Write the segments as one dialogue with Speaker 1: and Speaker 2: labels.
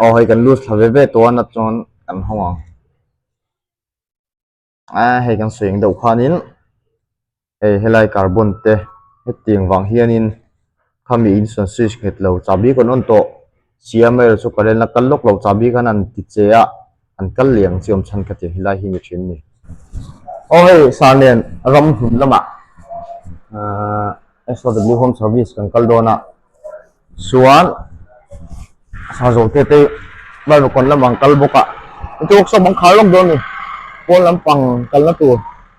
Speaker 1: aw hei kan lose tha ve ve tawh a nat chuan kan hawng ang ah hei kan sawi ang deuh khanin hei helai carbon te hetiang vang hianin khami insawn switch nghet lo chah bik a rawn awm tawh siam erawh chu current a kal lawk lo chah bik a rawn ti che a. An kal leh ang chiawm chhan kha tia hi lai hi ni thin ni. Aw hei sir nen ram hnun lama SOW home service kan kal dawn a chuan sir zawltete hi Bible kawn lamah an kal bawk a heti workshop an khar lawk dawn ni pawn lampang kalna tur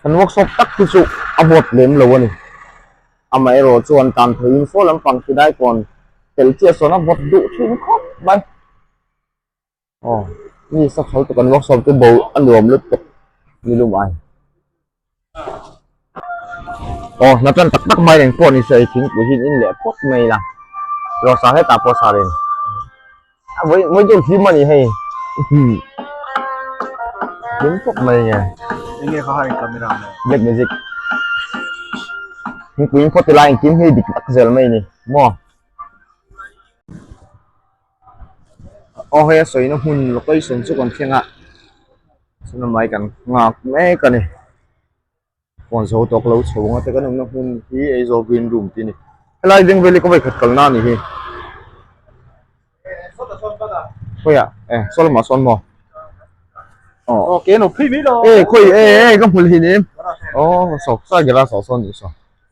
Speaker 1: Kan workshop tak hi chu a bawt lem lo a ni amaherawh chuan tan pheiin saw lampang ti lai tawn fel chiah sawn a bawt duh thin khawp mai aw mi sakhalh te kan workshop chu bo a nuam lutuk ni lum ai. Aw hna tan tak tak mai reng pawh nisa i thingpui hian in leh phawt mai ila, rawh sa hetah pawh sa reng vawi dawn thlima ni hei tling khawp mai nge enge kha harin
Speaker 2: camera nge black magic
Speaker 1: thingpui in phawt ila engkim hi dik tak zel mai ni maw. Aw hei a sawina hmun location chu kan thleng a chuan amah hi kan nghak mek a ni phone zo tawh ka lo chho ang a tichuan kan awmna hmun hi Aizawl green room tih a ni helai Ding Valley kawngei khat kalna a ni hi khawiah e saw lamah sawn maw
Speaker 2: aw e khawi e e ka
Speaker 1: hmu leh in em aw saw ka garage ah sawn a ni saw.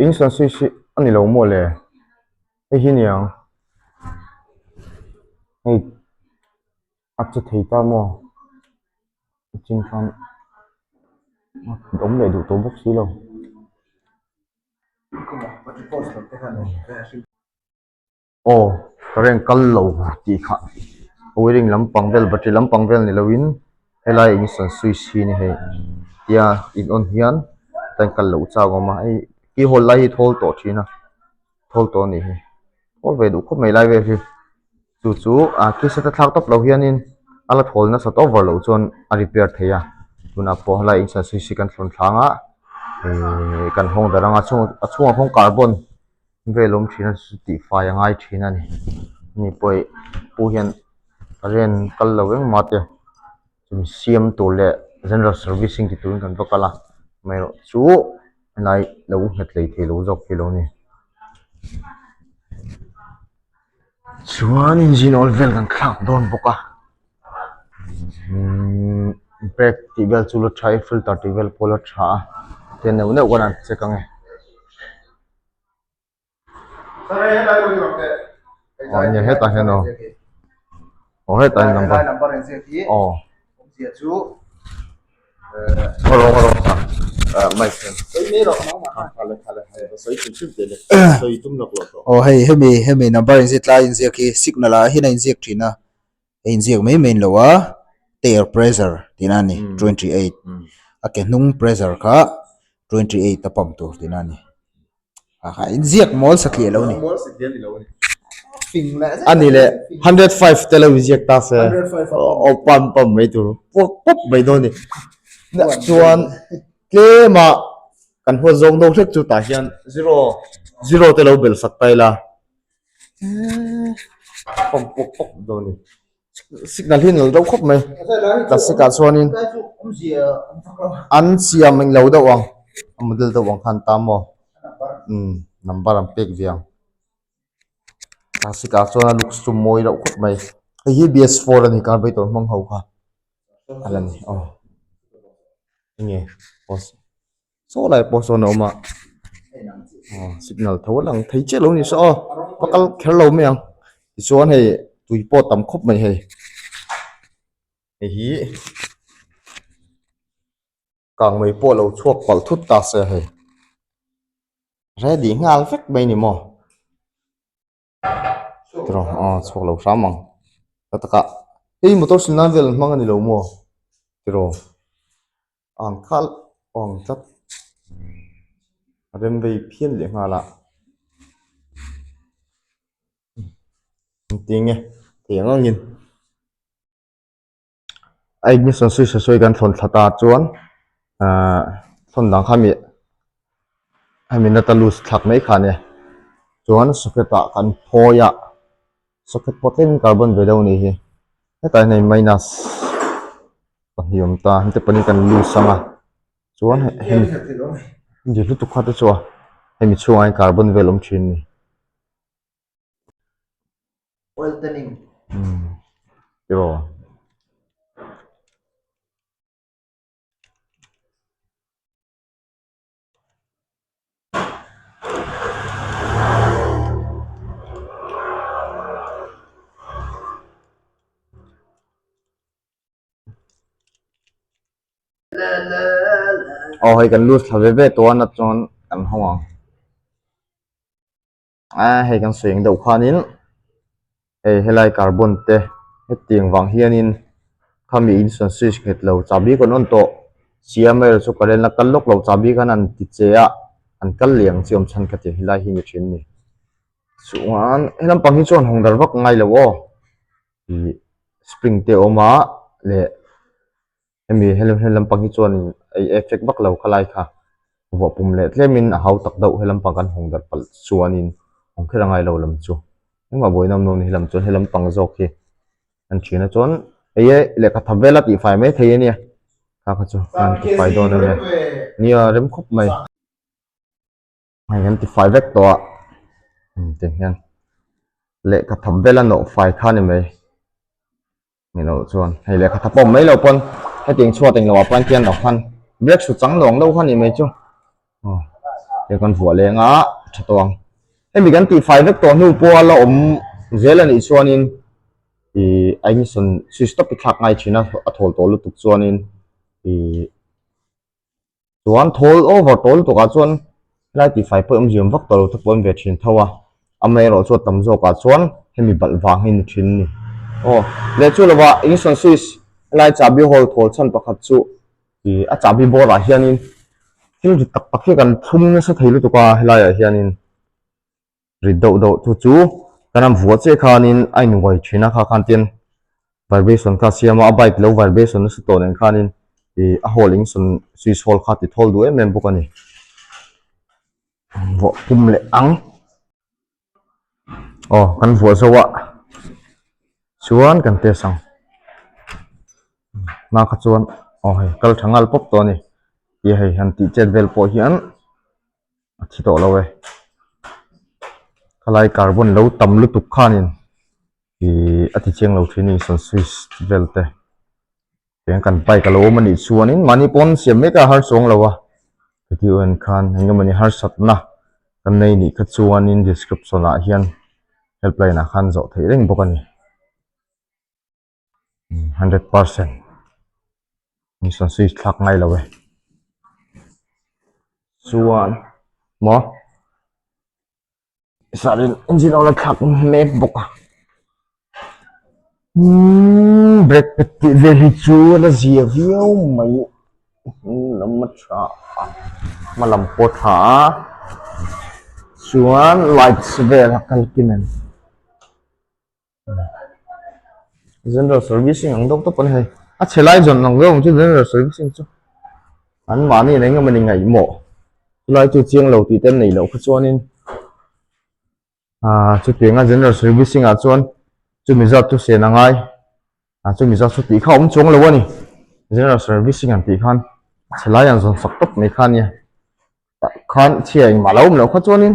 Speaker 1: Insan si si a ni lo maw le? Hei hi nia, hei a che thei ta maw? A chhing khan a awm leh duh tawh bawk si lo. aw ka reng kal lo tih kha puiling lampang vel battery lampang vel ni loin helai ignition switch hi ni hei tia in on hian heta in kal loh chak awm a hei keyhole lai hi thawl tawh thin a thawl tawh a nih hi thawl ve duh khawp mai lai vel hi chu chu a kisa ta thlak tawp lo hianin a la thawl nasa tawp var loh chuan a repair thei a tunah pawh helai ignition switch hi kan thlawn thlanga ehh kan hawng darh anga a chhung a chhungah kawngkhar a bawn. Ve lawm thin a ni chu tih fai a ngai thin a ni mi pawi pu hian a rian kal lo vek mahte mi siam tur leh general servicing ti turin kan va kal a amaherawh chu helai lo nghet leh thei lo zawk hi lo ni chuan engine âwl vel kan thlak dawn bawk a umm brake tih vel chu la tha a filter tih vel pawh la tha a tia neuh neuh ka ra'n check ang e. hemi number
Speaker 2: inziak tlai inziak hi signal ah ahin a inziak thin a a inziak mai mai lo a tire pressure tih na ni twenty eight a ke hnung pressure kha twenty eight a pump tur tih na ni a inziak mawl sa tliah lo a ni a ni leh hundred
Speaker 1: five te lo inziak ta se o pump pump mai tur puak puak mai dawn ni chuan tlema kan huat zawk deuh hlek chu tah hian zero zero te lo bel sak ta ila pawm pawp pawp dawn a ni signal hi a nuam dawn khawp mai plastic ah chuanin an siam eng lo deuh ang a model deuh ang kha an tam maw umm number an pek ve ang plastic ah chuan a looks chu mawi loh khawp mai hei hi bs four a ni carburetor hmang ho kha a la ni aw enge pawh. saw laiah pawh sawn a awm a aw signal tho a lang thei chiah lo ni saw aw va kal kher lo mai ang tichuan hei tui pawh a tam khawp mai hei hei hi kang mai pawh a lo chhuak palh thut ta se hei ready nghal vek mai a ni maw. Tiraw ah chhuak lo hram ang hla takah hei motor sil nan vel an hmang a ni lo maw tiraw ang khalh aw ang tlat a rem vei phian leh nghal a engtin nge thei ang angin. a ignition switch a sawi kan thlawn thla ta chuan ah thlawn dan kha mi a mi nata lus thlak mai kha nia chuan socket ah kan phawi a socket pawh tlem in carbon ve deuh a nih hi hetah hian hei minus pahnih awm ta heti pawh hi kan lus ang a chuan heng heng dirhlutuk kha te chu a hemi chhungah hian carbon vel awm thin a ni. aw hei kan loose tha ve ve tawh a nat chuan kan hawng ang. Aa hei kan sawi eng deuh khanin hei helai carbon te heti ang vang hianin khami insawn switch nghet lo chah bik an awm tawh siam erawh chu current a kal lawk lo chah bik an han ti che a an kal leh ang chi awm chhan ka ti helai hi mi thin ni chuan helampang hi chuan hawn dar vak ngai lo aw ih spring te a awm a leh-- Hemi hel hel lampang hi chuan in ei effect vak lo kha lai kha vuah pum leh tlem in a hau tak deuh helampang kan hawng darh palh chuan in hawng kher angai lo lam chu engmah buai nawm nawm ni hilam chuan helampang zawk hi an ṭhin a chuan ei e lehkha thap vela tih fai mai thei ania kha kha chu a han ti fai dawn ania nia rem khawp mai. hei kan ti fai vek tawh a hemi te hian lehkha thap bela nawh fai kha ni mai ni loh chuan hei lehkha thap awm mai lo pawn heti eng chhuat englo ah pawn khian lo khan break su chang nuang lo kha ni mai chu oh te kan vuah leng a tha tawng hemi kan ti fai vek tawh hnu pawh la awm zel anih chuanin i aimison switch stop i thlak ngai thin a a thawl tawh lutuk chuanin i chuan thawl over tawl lutuk ah chuan helai tih fai pawh hi awm ziam vak tawh lo te pawh an ve thin tho a ama erawh chu a tam zawk ah chuan hemi balh vang hi ni thin ni aw leh chu lo va ignition switch helai chahbi hawl thawl chhan pakhat chu i a chahbi bawr ah hian in thil dik tak tak hi kan thlum nasa thei lutuk a helai ah hian in rit deuh deuh thu chu ka ram vua che khanin a inuai thin a kha khan tian vibration kha a siam a a bike lo vibration nasa tawh nen khanin ih a hall in sawn switch hall kha a ti thawl duh em em bawk a ni vawh pum leh ang aw kan vuah zo a chuan kan test ang hma kha chuan aw hei kal tha nghal pawp tawh a ni tia hei han tih chet vel pawh hian. a thi tawh lo e khalaia kar bua'n lo tam lutuk khanin ihh a tichiang lo thin a ni Sunswiss vel te tiang kan bike a lo awm a nih chuanin mahni pawn siam mek a harchawng lo a heti erawhin khan engemawni harsatna kan nei nih kha chuanin description ah hian helpline ah khan zawh theih reng bawk a ni. hundred percent mission sawi thlak mai lo e chuan maw sarih engine a la thlak mek bawk a brake pad tih vel hi chu a la zia viau mai a hnunglam a tha a hma lam pawh a tha a chuan lights vel a kal kim em. general servicing ang deuh deuh a ni hei a chhelai zawn ang deuh ang chu general servicing chu an mahniin eng emaw ni ngaihmawh chulai chu chiang lo tih te an nei loh kha chuanin ah chutiang ah general servicing ah chuan chumi zat chu sen a ngai a chumi zat chu tih kha awm chuang lo a ni general servicing ang tih khan a chhelai ang zawn sak tak mai kha a nia tah khan chhia engmah a lo awm loh kha chuanin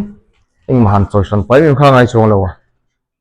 Speaker 1: engmah han chawihran paihmim kha a ngai chuang lo a.